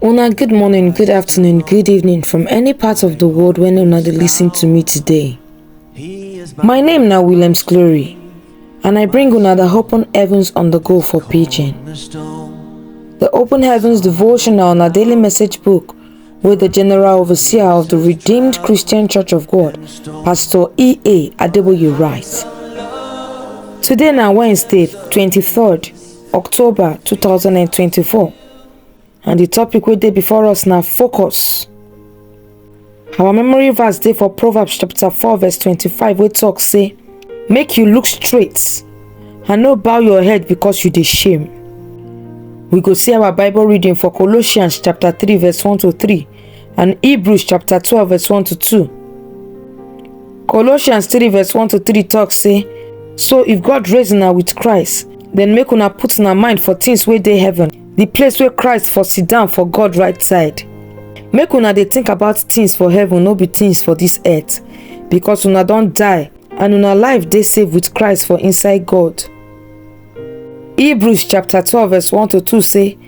Una, good morning, good afternoon, good evening from any part of the world when una dey listen to me today. My name na Williams Glory, and I bring una the open heavens on the go for pidgin. The open heavens devotional na daily message book wey the general overseer of the Redeemed Christian Church of God, Pastor E.A. Adeboye writes. Today na Wednesday, 23rd October 2024 and the topic wey dey before us na focus. Our memory verse dey for Proverbs chapter 4 verse 25 wey talk say make you look straight and no bow your head because you dey shame. We go see our Bible reading for Colossians chapter 3 verse 1 to 3 and Hebrews chapter 12 verse 1 to 2. Colossians 3 verse 1 to 3 talk say, So if God raise una with Christ, then make una put una mind for things wey dey heaven, the place where Christ for sit down for God right side. Make una dey think about things for heaven, no be things for this earth, because una don die and una life dey safe with Christ for inside God. Hebrews chapter 12 verse 1 to 2 say,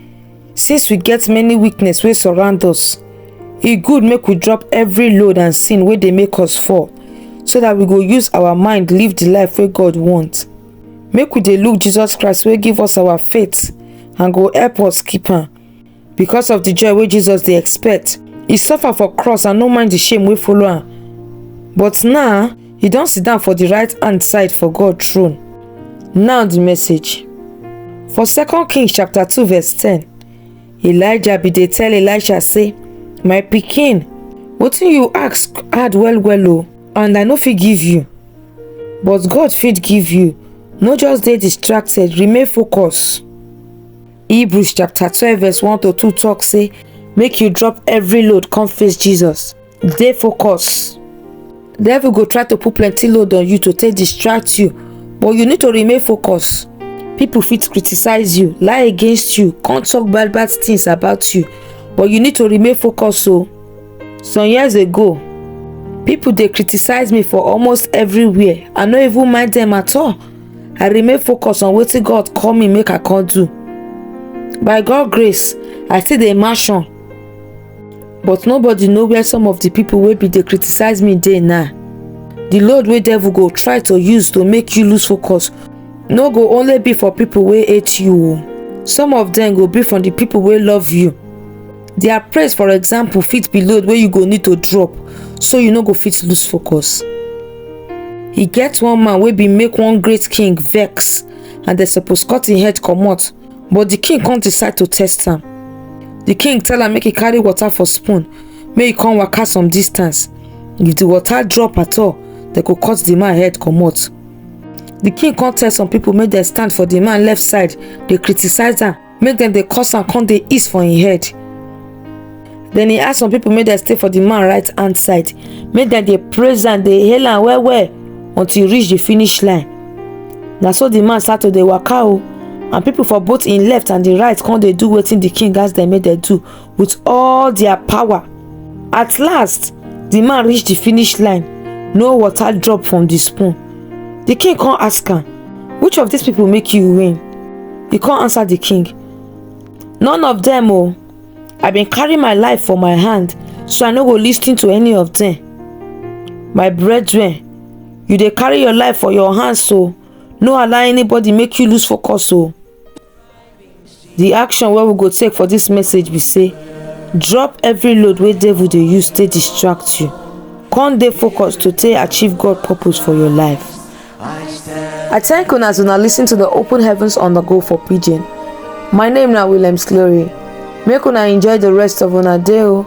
Since we get many weakness wey surround us, e good make we drop every load and sin wey dey make us fall, so that we go use our mind live the life wey God want. Make we dey look Jesus Christ wey give us our faith and go help us keep am. Because of the joy wey Jesus dey expect, e suffer for cross and no mind the shame wey follow am. But now, e don sit down for the right hand side for God throne. Now the message. For 2 Kings chapter 2 verse 10, Elijah bin dey tell Elisha say, My pikin, wetin you ask hard well well o, and I no fit give you. But God fit give you. No just dey distracted, remain focused. Hebrews chapter 12 verse 1 to 2 talk say make you drop every load come face Jesus. Dey focus. Devil go try to put plenty load on you to take distract you but you need to remain focused. People fit criticize you, lie against you, come talk bad bad things about you but you need to remain focused o. Some years ago people dey criticize me for almost everywhere I no even mind them at all i remain focused on wetin god call me make i come do by god grace i still dey mansion but nobody know where some of the people wey bin dey criticize me dey now the load wey devil go try to use to make you lose focus no go only be for people wey hate you o some of them go be from the people wey love you their praise for example fit be load wey you go need to drop so you no go fit lose focus e get one man wey bin make one great king vex and dem suppose cut im head comot but di king come decide to test am di king tell am make e carry water for spoon make e come waka some distance if di water drop at all dem go cut di man head comot di king come tell some pipo make dem stand for di man left side dey criticise am make dem dey curse am come dey ease for im head then he ask some people make dem stay for the man right hand side make dem dey praise am dey hail am well well until e reach the finish line na so the man start to dey waka o and people for both im left and the right come dey do wetin the king ask dem make dem do with all their power at last the man reach the finish line no water drop from the spoon the king come ask am which of these people make you win he come answer the king none of them o i been carry my life for my hand so i no go lis ten to any of them my brethren you dey carry your life for your hands so no allow anybody make you lose focus o The action wey we go take for this message be say drop every load wey devil dey use to distract you come dey focus to take achieve God purpose for your life. I thank una as una listen to the open heavens on the go for pidgin. My name na Williams Glory. Make una enjoy the rest of una day o.